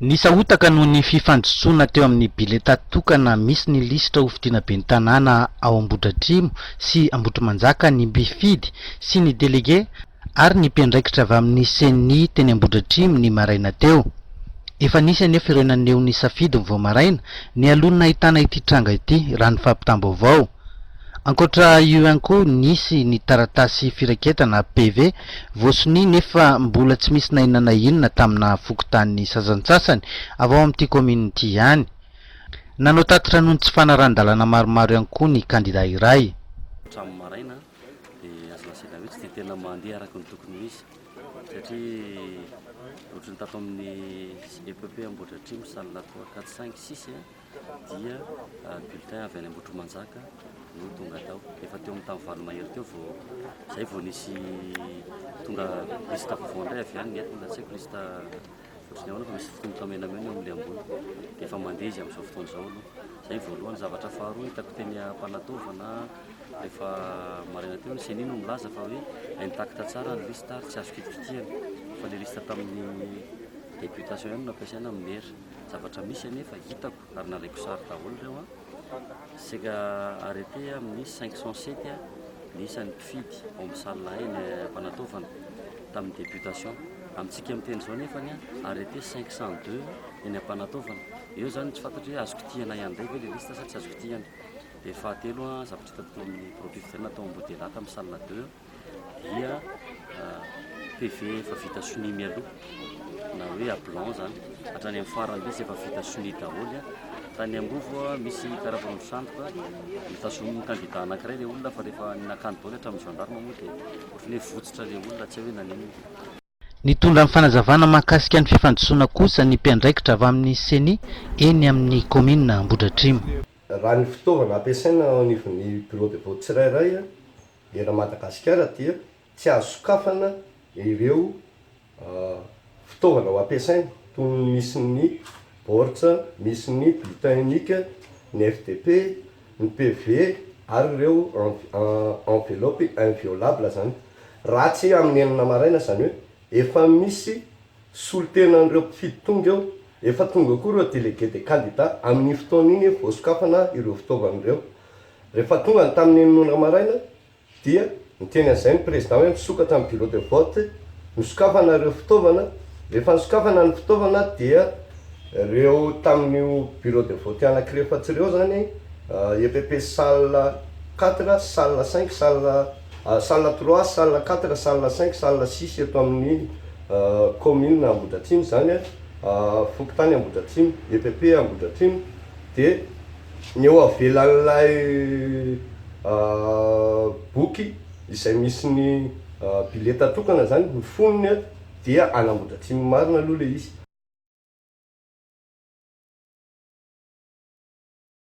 Nisahotaka noho ny fifandisoana teo amin'ny bileta tokana misy ny lisitra ho fidiana ben'ny tanàna ao Ambohidratrimo sy Ambohitrimanjaka ny mpifidy sy ny delege ary ny mpiandraikitra avy amin'ny Ceni teny Ambohidratrimo ny maraina teo. Efa nisy anefa ireo naneho ny safidiny vao maraina, nialoha ny nahitana ity tranga ity, raha ny fampitam-baovao. Ankoatra io ihany koa, nisy ny taratasy firaiketana, PV, voasonia nefa mbola tsy misy na inona na inona tamina fokontanin'ny sasantsasany avy ao amin'ity kaominina ity ihany. Nanao tatitra noho ny tsy fanarahan-dalana maromaro ihany koa ny kandida iray. Hatramin'ny maraina dia azo lazaina hoe tsy dia tena mandeha araka ny tokony ho izy satria ohatran'ny tato amin'ny epp Ambohidratrimo, Salinatoa, Ankadisaingy, sisa. dia bulletin avy any Ambohitrimanjaka no tonga tao. Efa teo amin'ny tany valo mahery teo vao izay vao nisy tonga lista vaovao indray avy any nety mbola tsy haiko lista ohatrany ahoana fa misy fotomotra menamena eo amin'ilay ambony dia efa mandeha izy amin'izao fotoana izao aloha. Izay voalohany zavatra faharoa hitako teny Ampanataovana rehefa maraina teo ny CENI no milaza fa hoe intact tsara ny lista ary tsy azo kitikitihana fa ilay lista tamin'ny députation ihany no nampiasaina amin'ny maire. Zavatra misy anefa hitako ary nalaiko sary daholo ireo an! Saika arrêté amin'ny 507 ny isan'ny mpifidy ao amin'ny salle hay ny ampanataovana tamin'ny députation. Amintsika miteny izao anefa ny arrêté 502 eny ampanataovana. Eo izany no tsy fantatro hoe azo kitihana ihany indray ve ilay liste sa tsy azo kitihana. Dia fahatelo an, zavatra hitako teo amin'ny bureau-pifidianana tao Ambodelahy tamin'ny salle deux. dia PV efa vita sonia mialoha na hoe à blanc izany hatrany amin'ny farany mihitsy efa vita sonia daholo tany Ambovo misy karapanondro sandoka notazonin'ny kandida anankiray ilay olona fa rehefa nakany daholo hatramin'ny gendarme moa dia ohatran'ny hoe votsitra ilay olona tsy hay hoe nanenina Nitondra ny fanazavana mahakasika ny fifandisoana kosa ny mpiandraikitra avy amin'ny Ceni eny amin'ny kaominina Ambohidratrimo. Raha ny fitaovana ampiasaina eo anivon'ny bureau de vote tsirairay eran'i Madagasikara dia tsy azo sokafana ireo fitaovana ho ampiasaina toy ny misy ny baoritra misy ny bulletin unique, ny FDP, ny PV ary ireo enveloppes inviolables zany raha tsy amin'ny enina maraina izany hoe efa misy solontenan'ireo mpifidy tonga eo, efa tonga koa ireo délégués des candidats amin'iny fotoana iny vao sokafana ireo fitaovana ireo. Rehefa tonga ny tamin'ny enina ora maraina Dia niteny an'izay ny Président hoe misokatra ny bureau de vote, nosokafana ireo fitaovana, rehefa nosokafana ny fitaovana dia ireo tamin'io bureau de vote anakirefatra ireo izany, EPP salle quatre, salle cinq, salle, salle trois, salle quatre, salle cinq, salle six eto amin'ny Commune Ambohidratrimo izany, Fokontany Ambohidratrimo, EPP Ambohidratrimo dia. Ny eo avelan'ilay boky izay misy ny bileta tokana zany no fonony a, dia an'Ambohidratrimo marina aloha le izy.